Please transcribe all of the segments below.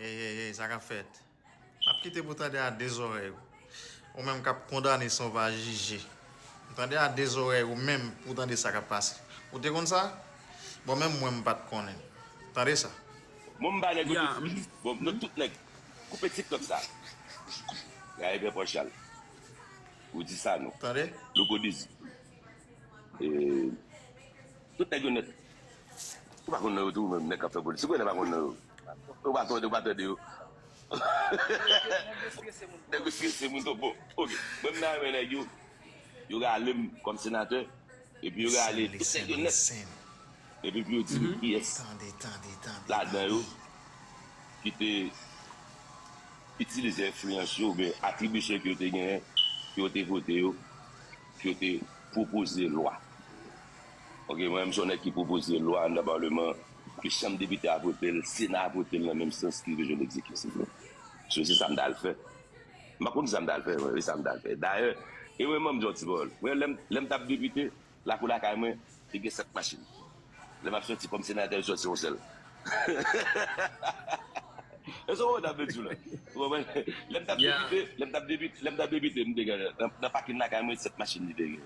Hey hey hey sa kap fèt? Map kite pou tande a 2 zorèy ou ou menm kap kondane san w pa jije tande a 2 zorèy ou menm pou tande sa kap pase ou te konn sa? Bon menm mwen m pat konnen tande sa. Bon m ba nèg yo tout fri wi bon nou tout nèg koupe tiktok sa gade pè pòchal ou di sa nou. Tande. Louko dizi. Tout nèg yo nèt. Ou pa konn non yo tou ou menm nèg kap fè politik ou wè nèg pa konn non yo ou pa tande ou pa tande yo nèg yo strese moun nèg yo strese moun twòp bon ok mwen m ta renmen nèg yo yo ralem kòm senatè epi yo rale tout nèg yo nèt epi pou yo di nou kiyès ladan yo ki te itilize enfliyans yo oubyen atribisyon ke yo te genyen pou yo te vote yo pou yo te pwopoze lwa. Ok mwen menm son nèg ki pwopoze lwa anndan parleman ke chanm depite a votel sena votel nan menm sans ke je l'execute s'il vous plait so se sam tal fè map konn sam tal fè wi sam tal fè dayè e mwen banm di yon ti pawòl mwen lèm lèm tap depite lakou lakay mwen te gen 7 machin lè map sòti kòm senatè m sòti yon sèl èske w konprann sam vle diw la ou konprann lèm tap depite lèm tap depite lèm tap depite m te gen nan pakin lakay mwen 7 machin li te gen.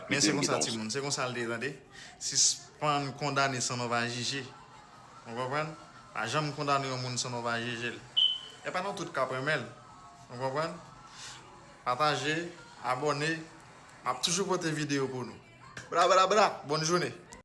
Men se konsa timoun, se konsa l te ye tande. Sispann kondane san nou pa jije. Ou konprann? Pa janm kondane yon moun san nou pa jije l. E pa nou tout k ap renmen l. Ou konprann? Pataje, abòne, m ap toujou pote videyo pou nou. Bra bra bra! Bòn joune!